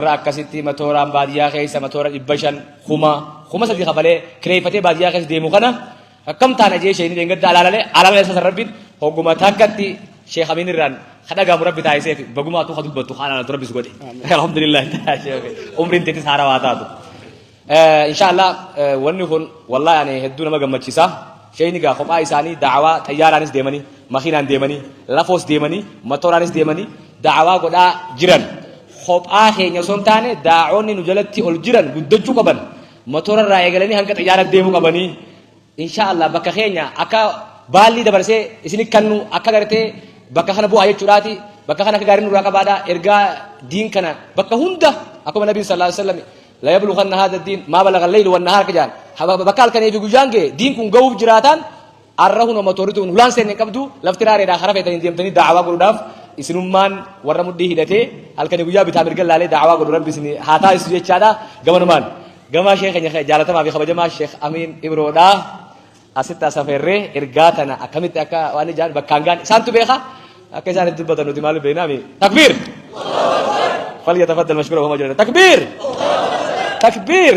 Warra akkasitti matooraan baadiyyaa keessa matoora dhibba shan kuma kuma sadii kafalee kireeffatee baadiyyaa keessa deemu kana akkam taana jee isheen dheengadda alaalalee alaalalee sasa rabbiin hogguma takkatti sheekh amiin irraan kadhagaamu rabbi taa'isee fi bagumaa tuu kadubbattu haa alaalatu rabbis godhe alhamdulillah umriin teetis haarawaa taatu. Inshaa Allah wanni kun wallahi ani hedduu nama gammachisa. Sheeyni gaa kophaa isaanii da'awaa xayyaaraanis deemanii, makiinaan deemanii, lafoos deemanii, matooraanis deemanii da'awaa godhaa jiran. Kophaa keenya osoo hin taane daa'onni nu jalatti ol jiran guddachuu qaban. Matoora irraa eegalanii hanga xayyaaratti deemuu qabanii. Inshaa Allah bakka keenya akka baallii dabarsee isin kannu akka gartee bakka kana bu'aa jechuudhaati. Bakka kana akka gaarii nurraa qabaadha. Ergaa diin kana bakka hunda akkuma Nabiin sallallahu alaihi wasallam la yabluganna hadha diin maa balaga leylu wannahaar ka jaan bakka halkanii fi guyyaan ga'e diin kun ga'uuf jiraataan arra huna motorri tun hulaan seenne hin qabdu lafti raareedhaa karaa feetanii deemtanii daawaa godhuudhaaf isinummaan warra mudhii hidhatee halkanii guyyaa bitaa mirga laalee daawaa godhu rabbi isin haa taasisu jechaadha gamanumaan gamaa sheekh keenya jaalatamaa fi kabajamaa sheekh amiin ibroodhaa Asitti asaferree ergaa tana akkamitti akka waan ijaan bakkaan gaan isaantu beeka akka isaan itti dubbatan nuti maal beeknaa mi takbiir falyatafaddal mashkuura homa jirata takbiir takbiir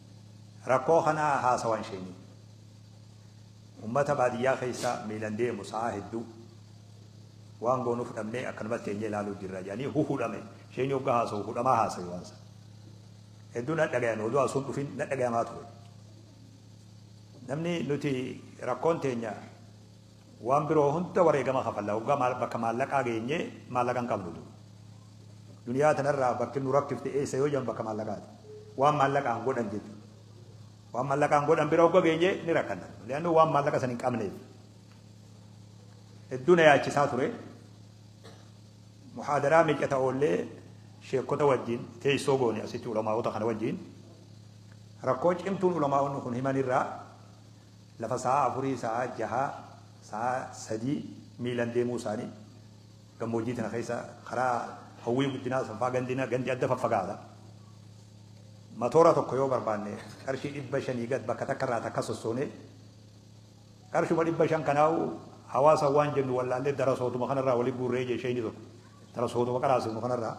Rakkoo kana haasawan sheenii. Ummata baadiyyaa keessa miilan deemu sa'aa hedduu waan goonuuf dhabnee akkanumatti teenyee ilaaluu jirra jedhanii hu hudhame. Sheenii hoggaa haasawu hudhamaa haasawi waan san. Hedduu na dhagayame odoo asuu hin dhufin na dhagayamaa ture. Namni nuti rakkoon teenya. Waan biroo hunda wareegama kafalla. Hoggaa maal bakka maallaqaa geenye maallaqa hin qabnu du. Duniyaa tanarraa bakki nu rakkifte eessa yoo jedhan bakka maallaqaati. Waan maallaqaan godhan jechu. Waan maallaqaan godhan bira hogga geenye ni rakkanna. Li'annu waan maallaqa san hin qabneef. Hedduu na yaachisaa ture. Muhaadaraa meeqa ta'ollee sheekkota wajjin teessoo goone asitti ulamaa'ota kana wajjin rakkoo cimtuun ulamaa'onni kun himanirraa Lafa sa'aa afurii, sa'aa jahaa, sa'aa sadii miilan deemuu isaanii. Gammoojjii tana keessa karaa Hawwii Guddinaa san faa gandi na gandi adda faffagaata. Matoora tokko yoo barbaanne qarshii 500 gad bakka takka irraa takka sossoonee qarshuma 500 kanaahu hawaasa waan jennu wallaallee darasootuma kana irraa wali guurree jee sheeyni tokko. Darasootuma qaraasifnu kana irraa.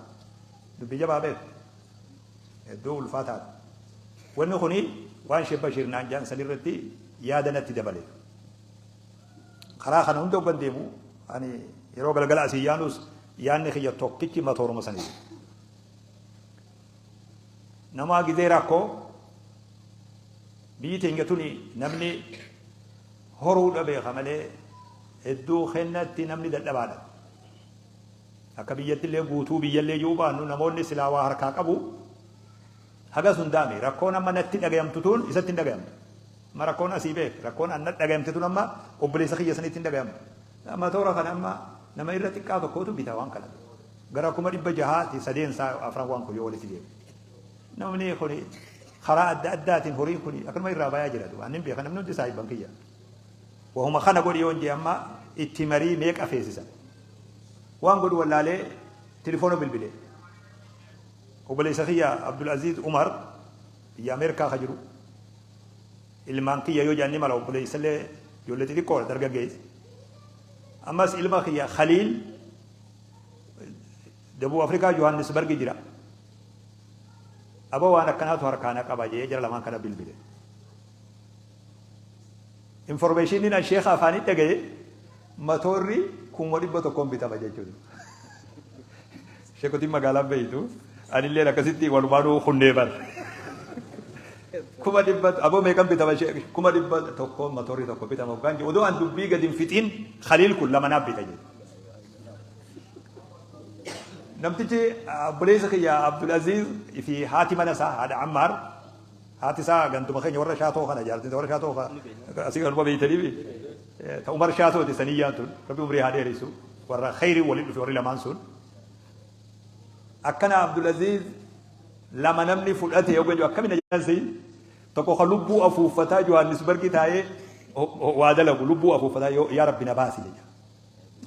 Dubbii jabaa beekta. Hedduu ulfaataadha. Wanni kuni waan Sheikh Bashiir naan jedhan san irratti yaada natti dabale. Karaa kana hunda oggan deemu ani yeroo galgala asii yaanus yaanni kiyya tokkichi matooruma sanii. Namaa gizee rakkoo biyyi teenya tuni namni horuudha beeka malee hedduu kennatti namni dadhabaadha. Akka biyyattillee guutuu biyyallee ji'uu baannu namoonni silaa waa harkaa qabu hagas hundaa mi? Rakkoon amma natti dhagayamtu tuun isatti hin dhagayamtu. Amma rakkoon asii beek rakkoon an na dhagayamte tun amma obboleessa kiyya sanitti hin dhagayamtu. Matoora kana amma nama irra xiqqaa tokkootu bita waan kana. Gara kuma dhibba jahaa ti sadeen isaa afran waan kun yoo walitti deeme. Namni kuni karaa adda addaatiin horiin kuni akkanuma irraa bayaa jira duba. Annin beeka namni hundi saahibban kiyya. Wahuma kana godhi yoon jee amma itti marii meeqa feesisa. Waan godhu wallaalee tilifoona bilbile. Obboleessa kiyya Abdul Aziz Umar biyya Ameerikaa ka jiru. Ilmaan kiyya yoo jaanni mala obboleessa illee ijoollee xixiqqoodha dargaggeessa. Ammas ilma kiyya Khaliil Dabuu Afrikaa Johannesburg jira. Aba waan akkanaatu harkaana qaba jee jara lamaan kana bilbile. Information an sheekha afaanii dhagaye matoorri kuma dhibba tokkoon bitama jechuudha. Sheekotiin magaalaan beeytu anilleen akkasitti walumaanuu kunnee bar. Kuma dhibba aboo meeqan bitama kuma dhibba tokkoon matoorri tokko bitama hoggaan jedhu odoo an dubbii gadi hin fixiin Khaliil kun lama naaf bita jedhu. Namtichi obboleessa kiyya Abdul Aziz fi haati mana isaa haadha Ammaar Haati isaa ganduma keenya warra shaatoo kana jaalti warra shaatoo ka asii galuma beeytaniifi ta umar shaatooti saniyyaan tun rabbi umrii haa dheeressu warra kheyrii waliin dhufe warri lamaan sun akkana abdulaziz lama namni fudhate yoo ganyu akkami na jaansi tokko ka lubbuu afuuffataa johannisbargi taa'ee waa dalagu lubbuu afuuffataa yaa rabbi na baasi jedha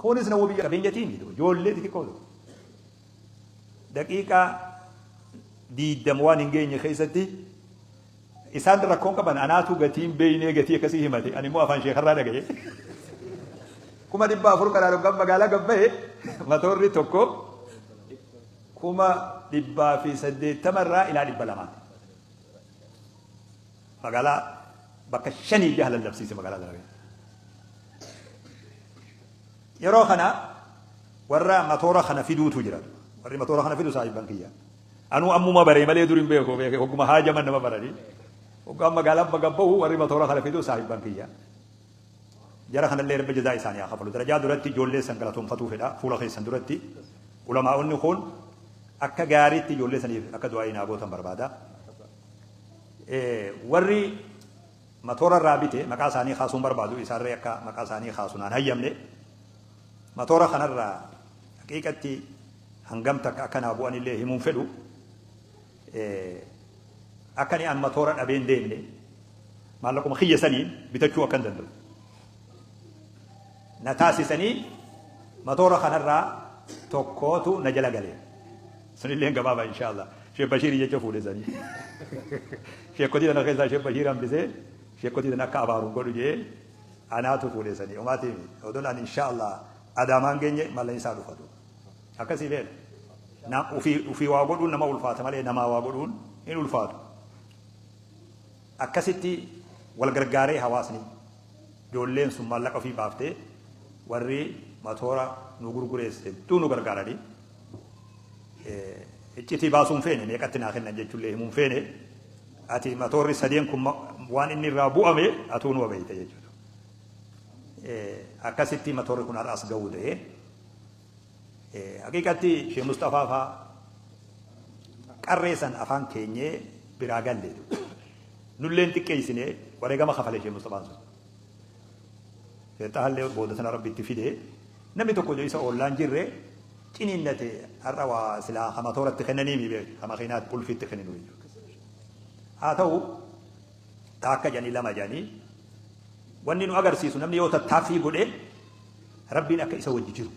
kunis na wabii qabeenyatiin ijoollee xixiqqoo daqiiqaa 20 waan hin geenye keessatti isaan rakkoon qaban anaatu gatiin beeynee gatii akkasii himate ani immoo afaan sheekarraa dhagaye kuma dhibba afur karaa dhoggan magaalaa gabbaye matoorri tokko kuma dhibbaa fi saddeettama irraa ilaa dhibba lamaati magaalaa bakka shanii jaha lallabsiise magaalaa lallabee Yeroo kana warra matoora kana fiduutu jira. Warri matoora kana fidu saahibban kiyya. Anuu ammuma baree malee dur hin beeku beeke hogguma haajaman nama baranii. Hoggaan magaalaa baga bahu warri matoora kana fidu saahibban kiyya. Jara kanallee Rabbi jazaa isaanii haa kafalu. Darajaa duratti ijoollee san galatoomfatuu fedha fuula keessan duratti. Ulamaa'onni kun akka gaariitti ijoollee saniif akka du'aa'ii naa gootan barbaada. Warri Matoora irraa bite maqaa isaanii kaasuu hin barbaadu isaanree akka maqaa isaanii kaasu naan hayyamne matoora kanarraa haqiiqatti hangam takka akka naa bu'an illee himuun fedhu akka ni an matoora dhabee hin deemne maallaquma kiyya saniin bitachuu akka hin danda'u. na taasisanii matoora kanarraa tokkootu na jala gale. Sunilleen gabaabaa inshaallah. Sheekh Bashiirii jecha fuudhe sanii. Sheekkotii tana keessaa Sheekh Bashiir hambisee sheekkotii tana akka abaaru godhu jee anaatu fuudhe sanii. Omaatiin odoon ani inshaallah adaamaan geenye mallan isaa dhufatu. Akkasii beela. Nam ufii ufii waa godhuun nama ulfaata malee namaa waa godhuun hin ulfaatu. Akkasitti wal gargaaree hawaasni, ijoolleen sun maallaqa ofii baaftee warri matoora nu gurgurees hedduu nu gargaaranii iccitii baasuu hin feene meeqatti naa kennan jechuullee himuu hin feene ati matoorri sadeen kun waan inni irraa bu'ame atuu nu beeyta jechuudha. Akkasitti matoorri kun har'as ga'uu ta'ee. Haqiiqatti Shee Musxafaa faa qarree san afaan keenyee biraa galle nulleen xiqqeessine wareegama kafale Shee Musxafaan sun. Shee Xahallee booda sana rabbi itti fide namni tokko iyyuu isa oollaan jirre ciniinnate har'a waa silaa hama tooratti kennanii miidhe hama keenyaatti bulfiitti kenninu jechuudha. Haa ta'u Taakka jedhanii lama jedhanii wanni nu agarsiisu namni yoo tattaaffii godhe rabbiin akka isa wajji jiru.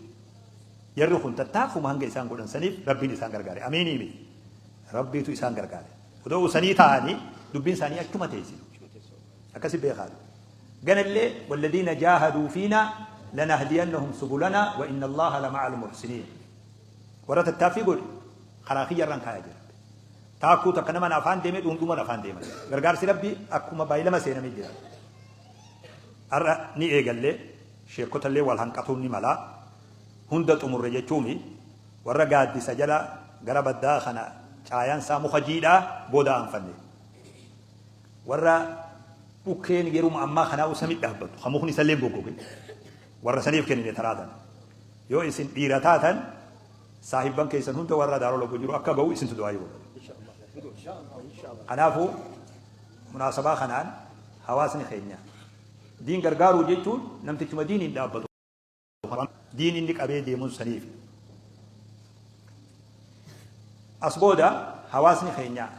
Jarri kun tattaaffuma hanga isaan godhan saniif rabbiin isaan gargaare. Amiinii miti. Rabbiitu isaan gargaare. Odoo sanii ta'anii dubbiin isaanii achuma teessi. Akkasi beekaa. Ganallee walladiina jaahaduu fiina lanahdiyannahum subulana wa inna allaha lama'a al-muhsiniin. Warra tattaaffii godhe karaa kiyyarraan kaayaa jira. Taakkuu takka naman afaan deeme dhuundhuman afaan deeman. Gargaarsi Rabbii akkuma baay'ilama seename jira. Har'a ni eegallee sheekkotallee wal hanqatuun ni mala. Hunda xumurre jechuumi warra gaaddisa jala gara baddaa kana caayansaa muka jiidhaa booda aanfanne. Warra dhukkeen yeruma ammaa kanaa usa midhaabbatu kan mukni isallee goggoge warra saniif kennine taraa tana. Yoo isin dhiira taatan Saahibban keessan hunda warra daaroo lagoo jiru akka gahu isintu du'aayii godha. Kanaafuu munaasabaa kanaan hawaasni keenya diin gargaaruu jechuun namtichuma diiniin dhaabbatu diin inni qabee deemuun saniif. As booda hawaasni keenya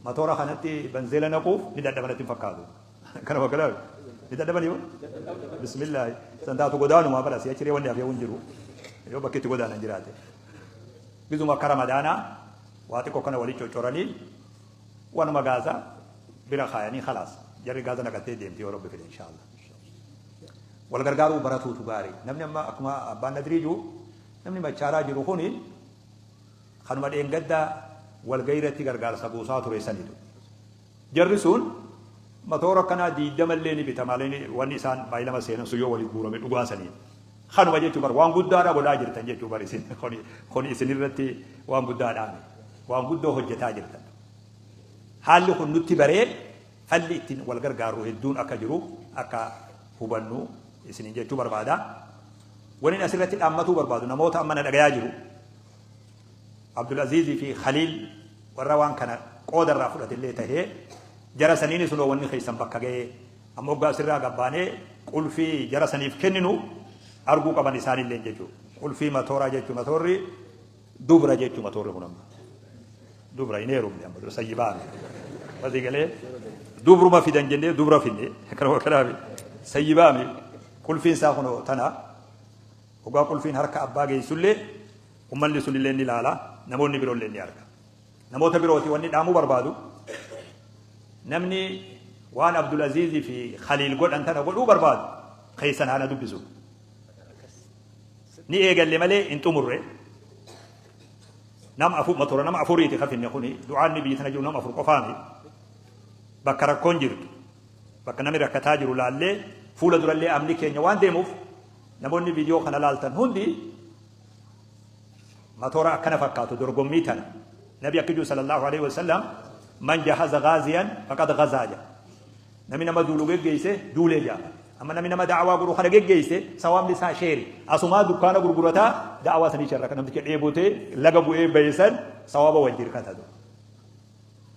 matoora kanatti banzeela naquuf ni dadhabanatti hin fakkaatu. Kanuma kana ni dadhabanii moo? Bismillaahi. San taatu godaanumaa bara si'a ciree wanni hafee hin jiru. Yoo bakki itti godaanan jiraate. Gizuma akka ramadaanaa waa xiqqoo kana waliin coccoranii wanuma gaasa bira kaayanii khalaas. Jarri gaasa naqattee deemti yoo rabbi fide inshaallah. Wal gargaaruu baratuutu gaarii. Namni amma akkuma abbaan nadrii jiru namni machaaraa jiru kuni kanuma dheengaddaa walgahii irratti gargaarsa buusaa ture sanitu. Jarri sun matoora akkanaa 20 illee ni bita malee wanni isaan May 2 seenan sun yoo walitti guurame dhugaa saniin kanuma jechuu bar waan guddaadha godhaa jirtan jechuu bar isin kuni kuni isin irratti waan guddaadhaami waan guddoo hojjetaa jirtan haalli kun nutti baree falli ittiin wal gargaarru hedduun akka jiru akka hubannu isinin jechuu barbaada. Waniin asirratti dhaammatuu barbaadu namoota amma na dhagayaa jiru. Abdulaziizii fi Khaliil warra waan kana qooda irraa fudhate illee tahee jara saniini sunoo wanni keessan bakka ga'e amma oggaa asirraa gabbaanee qulfii jara saniif kenninu arguu qaban isaanillee jechuu qulfii matooraa jechuu matoorri dubra jechuu matoorri kun amma dubra hin heerumne amma dura sayyibaa asii galee dubruma fidan jennee dubra finne kanuma kanaafi sayyibaa mi qulfiin isaa kunoo tana Hogaa qulfiin harka abbaa geessullee ummanni sunillee ni laala, namoonni biroollee ni arga. Namoota birooti wanni dhaamuu barbaadu namni waan Abdulaziizii fi Khaliil godhan tana godhuu barbaadu keessan haana dubbisu. Ni eegalle malee hin xumurre. Nama afur matura nama afuriiti kafinne kuni du'aan ni biyyi tana jiru nama afur qofaami. Bakka rakkoon jirtu bakka namni rakkataa jiru laallee fuula durallee amni keenya waan deemuuf Namoonni video kana laaltan hundi matoora akkana fakkaatu dorgommii tana. Nabi akka jiru sallallahu alaihi wasallam man jahaza ghaziyan faqad ghazaa jedha. Nami nama duulu geggeesse duulee jedha. Amma nami nama da'awaa godhu kana geggeesse sawaabni isaa sheeri. Asumaa dukkaana gurgurataa da'awaa sanii sharra kan namticha dheebotee laga bu'ee bayesan sawaaba wal jirkata.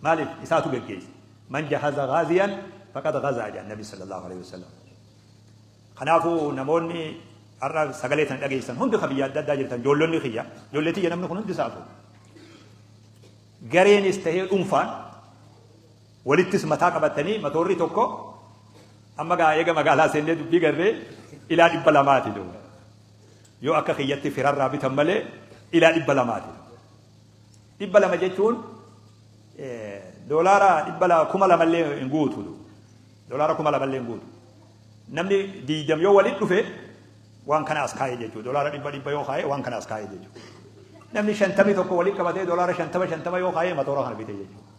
Maaliif isaatu geggeesse. Man jahaza ghaziyan faqad ghazaa jedha Nabi sallallahu alaihi wasallam. Kanaafuu namoonni har'a sagalee tana dhageessan hundi ka biyya adda addaa jirtan joollonni kiyya joollee tiyya namni kun hundi isaatu gareenis tahee dhuunfaan walittis mataa qabatanii matoorri tokko amma gaa eega magaalaa seennee dubbii garree ilaa dhibba lamaati doo yoo akka kiyyatti firarraa bitan malee ilaa dhibba lamaati dhibba lama jechuun doolaara dhibba lama kuma lamallee hin guutu doolaara kuma lamallee hin guutu Namni diidam yoo walit dhufe waan kana as kaa'e jechuudha. Dolaara dhibba dhibba yoo kaa'e waan kana as kaa'e jechuudha. Namni shantamii tokko walit qabatee dolaara shantama shantama yoo kaa'e matoora kana bite jechuudha.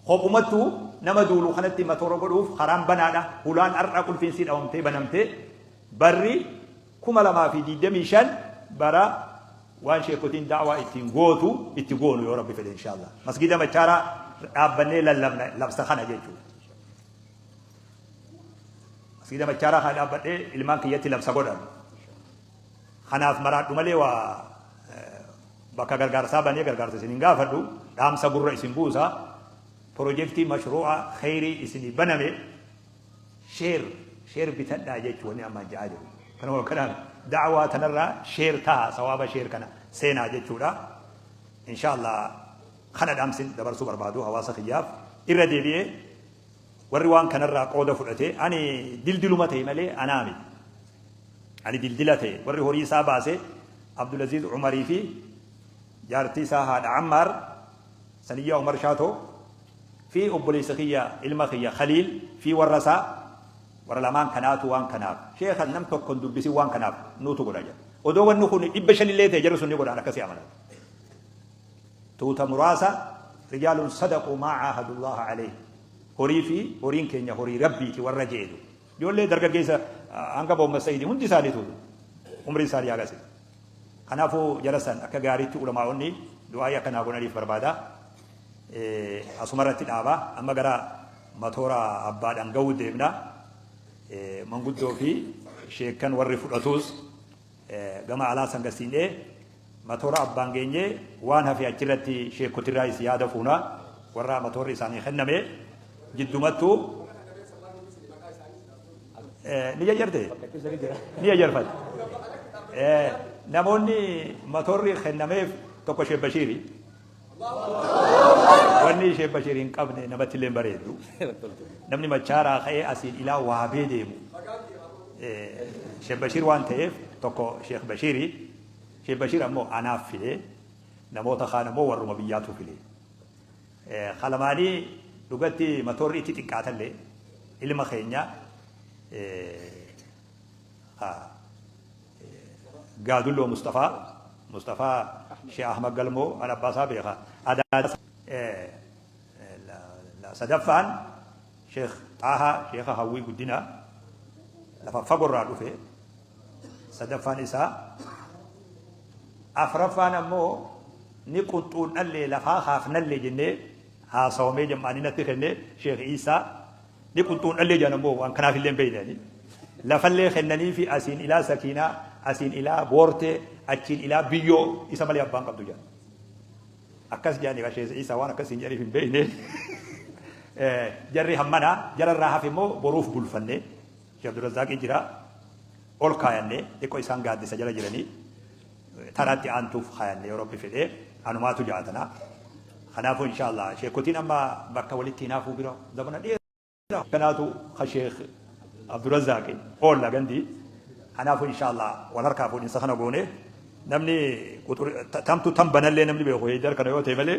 Kophumattu nama duulu kanatti matoora godhuuf karaan banaadha. Hulaan har'a qulfiinsii dhawamtee banamtee barri kuma lamaa fi diidamii shan bara waan sheekotiin daawaa ittiin gootu itti goonu yoo rabbi fedhe inshaallah. Masgiida machaaraa dhaabbannee lallabna labsa kana jechuudha. Masgiida Machaaraa kana dhaabbadhee ilmaan kiyyatti labsa godhan. Kanaaf maraadhu malee waa bakka gargaarsaa banee gargaarsa isin hin gaafadhu dhaamsa gurra isin buusa pirojektii mashruu'a kheyrii isinii baname sheer sheer bitadhaa jechuu wanni amma ja'aa jiru. Kanuma kanaan da'awaa tanarraa sheer ta'a sawaaba sheer kana seenaa jechuudha. Inshaallah kana dhaamsin dabarsuu barbaadu hawaasa kiyyaaf irra deebi'ee Warri waan kanarraa qooda fudhate ani dildiluma ta'e malee anaa miti. Ani dildila ta'e warri horii isaa baase Abdulaziz Umarii fi jaartii isaa haadha Ammaar Saniyyaa Umar Shaatoo fi obboleessa kiyya ilma kiyya Khaliil fi warra isaa warra lamaan kanaatu waan kanaaf sheekha nam tokkon dubbisin waan kanaaf nuutu godha jedha. Odoo wanni kun dhibba shanillee ta'e jarri sun ni godhaan akkasii amanan. Tuuta muraasa, Rijaalun sadaquu maa caahadullaaha caleyhi, Horii fi horiin keenya horii Rabbiiti warra jeedu. Ijoollee dargaggeessa hanga Mohammad Sa'iidi hundi isaaniitu umriin isaanii hagasi. Kanaafuu jara san akka gaariitti ulamaa'onni du'aa'ii akka naa godhaniif barbaada. Asuma irratti dhaaba. Amma gara matoora abbaa dhanga'uu deemna. Manguddoo fi sheekkan warri fudhatuus gama alaa san gasiin'ee Matoora abbaan geenye waan hafe achirratti sheekkotirraayis yaada fuuna. Warra matoorri isaanii kenname jiddumattu ni jajartee? Ni jajarfate. Namoonni matoorri kennameef tokko Sheek Bashiiri. Wanni Sheek Bashiiri hin qabne namatti illee hin bareedu. Namni machaaraa ka'ee asiin ilaa waabee deemu. Sheek Bashiir waan ta'eef tokko Sheek Bashiiri. Sheikh Bashir ammoo anaaf file namoota kaan ammoo warruma biyyaatu file. Ka lamaanii dhugatti matoorri itti xiqqaatalle ilma keenya ka Gaadulloo Mustafaa Mustafaa Sheikh Ahmad Galmoo an abbaa isaa beeka. Adaada sadaffaan Sheikh Xaahaa Sheikha Hawwii Guddinaa lafa fagorraa dhufe. sadaffaan isaa afraffaan ammoo ni qunxuun dhallee lafaa haafnallee jennee haasawamee jam'aanii natti kennee sheekh Iisaa ni qunxuun dhallee jedhan ammoo waan kanaaf illee hin beeknani lafallee kennanii fi asiin ilaa sakiinaa asiin ilaa boortee achiin ilaa biyyoo isa malee abbaan qabdu jedhan akkas jedhanii kan sheekh Iisaa waan akkas hin jedhaniif hin beekne jarri hammanaa jararraa hafe immoo boruuf bulfannee Sheikh Abdulrazzaaqii jiraa ol kaayannee xiqqoo isaan gaaddisa jala jiranii tanaatti aantuuf kaayannee yoo rabbi fedhee anumaatu ja'a tanaa. Kanaafuu inshaallah sheekotiin amma bakka walitti hinaafuu bira zamana dheeraa kanaatu ka sheekh Abdulrazzaaqi oolla gandi. Kanaafuu inshaallah wal harkaa fuudhinsa kana goonee namni tamtu tan banallee namni beeku heeydar kana yoo ta'e malee